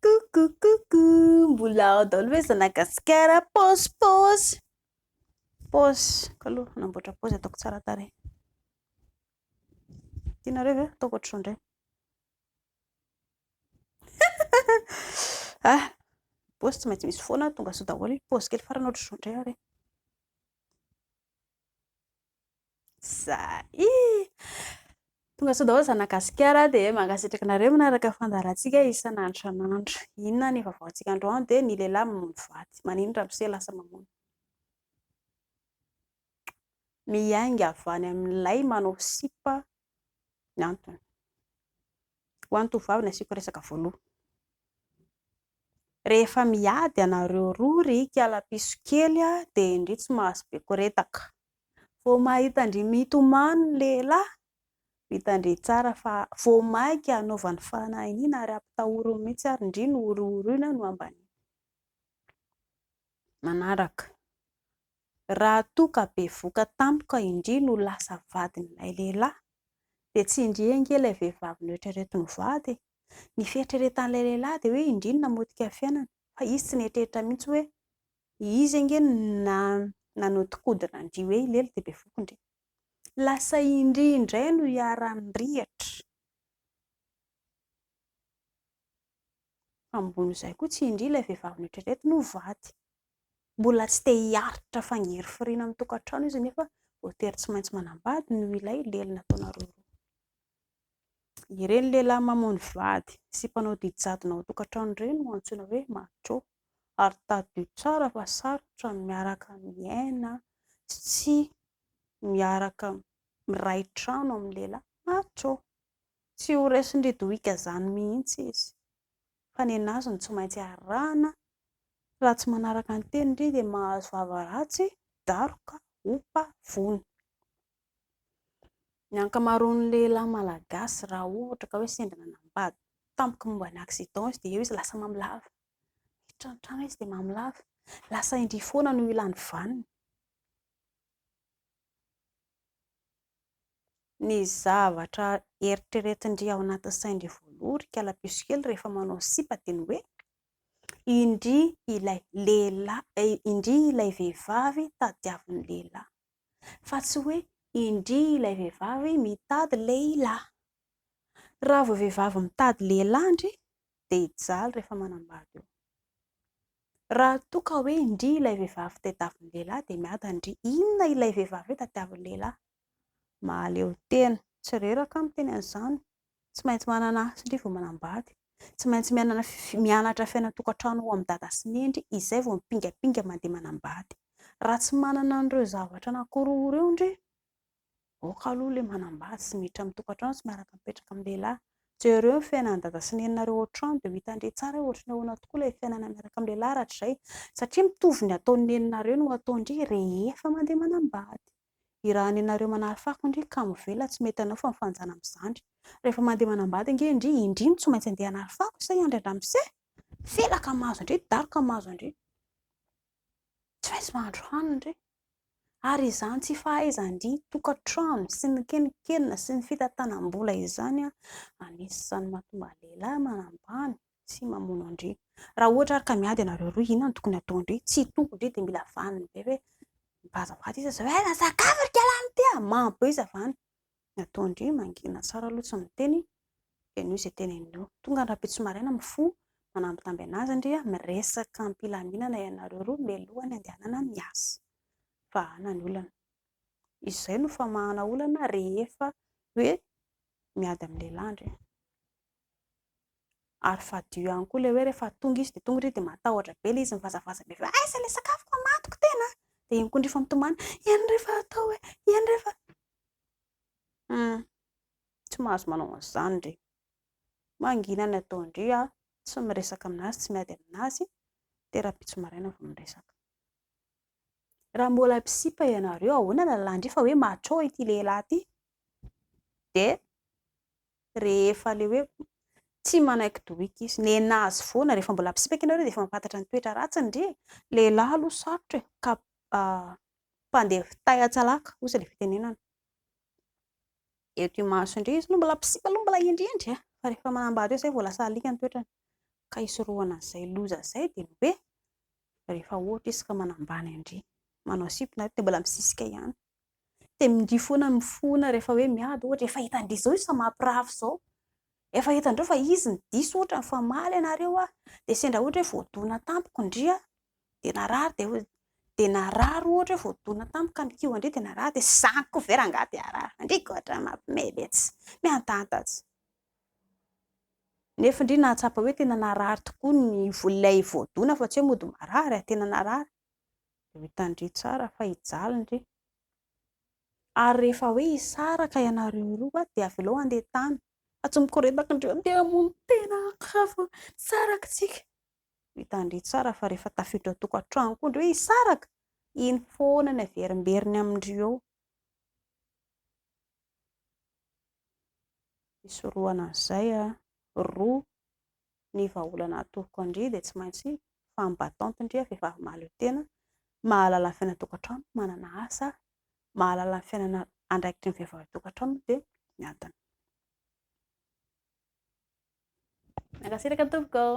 Coucou coucou mbola ao daholo ve zanagasikara pause pause pause ko aloha hanamboatra pause ataoko tsara tarehy tianareo ve ataoko ohatr'izao indray ah pause tsy maintsy misy foana tonga sao daholo pause kely farany ohatr'izao indray ary Zay! Tonga soa daholo zanaka gasikara dia mankasitraka anareo manaraka fandaharantsika isan'andro isan'andro. Inona ny vaovaontsika androany dia ny lehilahy mamono vady. Maninona ramose lasa mamono? Miainga avy any amin'ilay manao sipa ny antony. Ho an'ny tovovavy no asiako resaka voalohany. Rehefa miady ianareo roa ry kialapiso kely dia indry tsy mahazo be koretaka. Vao mahita-ndry mitomany ny lehilahy, vitan-dry tsara fa vao mainka anaovany fanahiniana ary ampitahoriny mihitsy ary indry nohorohoroina nohambaniana. Manaraka, Raha toa ka bevoka tampoka indry no lasa vadin'ilay lehilahy dia tsy indry ange ilay vehivavy noeritrereto mivady e! Ny fieritreretan'ilay lehilahy dia hoe indry no namotika fiainana fa izy tsy nieritreritra mihitsy hoe izy ange no nanodikodina an-dry hoe hilely dia bevoky indry. Lasa indry indray no iharan'rihatra fa ambon'izay koa tsy indry ilay vehivavy noeritrereto no vady. mbola tsy te hiaritra fangirifiriana amin'ny tokantrano izy nefa voatery tsy maintsy manambady noho ilay lely nataonareo roa. Ireny lehilahy mamono vady sy mpanao didy jadona ao tokantrano ireny no antsoina hoe macho ary tadidio tsara fa sarotra ny miaraka miaina sy miaraka miray trano amin'ny lehilahy macho. Tsy ho resin-dry Dohika izany mihitsy izy. fa ny an'azy no tsy maintsy arahina, raha tsy manaraka ny teniny re dia mahazo vava ratsy, daroka, opa, vono. Ny ankamaroan'ny lehilahy malagasy raha ohatra ka hoe sendra nanambady tampoka momba ny accident izy dia eo izy lasa mamilava, miditra ny trano izy dia mamilava, lasa indrisy foana no ilany vaniny. ny zavatra eritreretin-dry ao anatin'ny sain-dry voaloha ry kalapiso kely rehefa manao sipa dia ny hoe indry ilay lehilahy, indry ilay vehivavy tadiavin'ny lehilahy fa tsy hoe indry ilay vehivavy mitady lehilahy. Raha vao vehivavy mitady lehilahy ndry dia hijaly rehefa manambady eo. Raha toa ka hoe indria ilay vehivavy tadiavin'ny lehilahy dia miada ndry inona ilay vehivavy hoe tadiavin'ny lehilahy. Mahaleo tena. Tsy reraka aho miteny an'izany. Tsy maintsy manana asa ndry vao manambady. Tsy maintsy mianana mianatra fiainan-tokantrano ho amin'ny dada sy neny ndry izay vao mipingapinga mandeha manambady. Raha tsy manana an'ireo zavatra nankoroa ireo ndry Aoka aloha ilay manambady sy miditra amin'ny tokantrano sy miaraka mipetraka amin'ny lehilahy. Jereo ny fiainan'i dada sy neninareo ao an-trano dia ho hitan-dry tsara hoe ohatry ny ahoana tokoa ilay fiainana miaraka amin'ny lehilahy rahatrizay. Satria mitovy ny ataon'ny neninareo no ataon-dry rehefa mandeha manambady. Irahan'ny-nenareo manary fako indry ka mivelona tsy mety anao fa mifanjana amin'ny zandry. Rehefa mandeha manambady ange indry, indry no tsy maintsy handeha hanary fako sa hiandry an-dramose? Felaka mahazo an-dry, daroka mahazo an-dry. Tsy maintsy mahandro hanina re. Ary izany tsy fahaizan-dry tokantrano sy ny keninkenina sy ny fitantanam-bola izany anisan'ny mahatonga ny lehilahy manambany sy mamono an-dry. Raha ohatra ary ka miady ianareo roa, inona no tokony hataon-dry? Tsy hitombon-dry dia mila vaniny be hoe mivadibady izy izao. Eh, sakafo ry kialany ity ah! Mambo be izy avy any. Ny atao ndry mangina tsara aloha tsy miteny dia noho izay teneniny eo. Tonga ny rahampitso maraina mifoha manambitamby anazy ndry a, miresaka am-pilaminana ianareo roa mialohan'ny andehanana miasa. Vahana ny olana. Izay no famahana olana rehefa hoe miady amin'ny lehilahy ndry a. Ary fadio ihany koa ilay hoe rehefa tonga izy dia tonga irery dia matahotra be ilay izy mivazavaza be hoe aiza ilay sakafoko mamadiko tena a! Dia iny koa indray efa mitomany, eny rehefa atao e! eny rehefa. Humm, tsy mahazo manao an'izany re. Mangina ny ataon-dry aho, tsy miresaka amin'azy, tsy miady amin'azy, dia rahampitso maraina vao miresaka. Raha mbola mpisipa ianareo, ahoana ny lalàn-dry fa hoe macho ity lehilahy ity? Dia rehefa le hoe tsy manaiky dohika izy, nena azy foana, rehefa mbola mpisipaka ianareo dia efa mampantatra ny toetra ratsiny ndry e! lehilahy aloha sarotra e! ka mpandeha fitay an-tsalaka osa ilay fitenenana, eto imaso indray izy no mbola mpisipa aloha mbola hendrendry e! fa rehefa manambady eo izay vao lasa alika ny toetrany, ka hisorohana an'izay loza izay dia ny hoe rehefa ohatra izy ka manambany ndry manao sipa ianareo dia mbola misisika ihany dia mingi foana ny mifona rehefa hoe miady ohatra, efa hitan-dry zao io samapirafy zao, efa hitan-dreo fa izy no diso ohatra, nifamaly ianareo ah, dia sendra ohatra hoe voadona tampoka ndry ah, dia narary dia hoe, dia narary ohatra hoe voadona tampoka ka mikioa ndry dia narary dia zany koa ve rangaha dia harary, ndry koa ohatran'ny mampime mintsy, miantanta tsy, nefa ndry nahatsapa hoe tena narary tokoa ny vola ilay voadona fa tsy hoe mody marary ah, tena narary, dia hohitan-dry tsara fa hijaly-ndry. Ary rehefa hoe hisaraka ianareo roa dia avelao handeha tany fa tsy mikoretaka indray handeha hamono tena hafa misaraka isika. Hohitan-dry tsara fa rehefa tafiditra ao tokantrano koa indry hoe hisaraka, iny foana ny averimberiny amin-dry eo. Hisorohana an'izay roa ny vahaolana atoroko an-dry dia tsy maintsy femme battante ndry a, vehivavy mahaleo tena, mahalala ny fiainana an-tokantrano, manana asa, mahalala ny fiainana andraikitry ny vehivavy an-tokantrano dia miadana. Mankasitraka tompoko ô!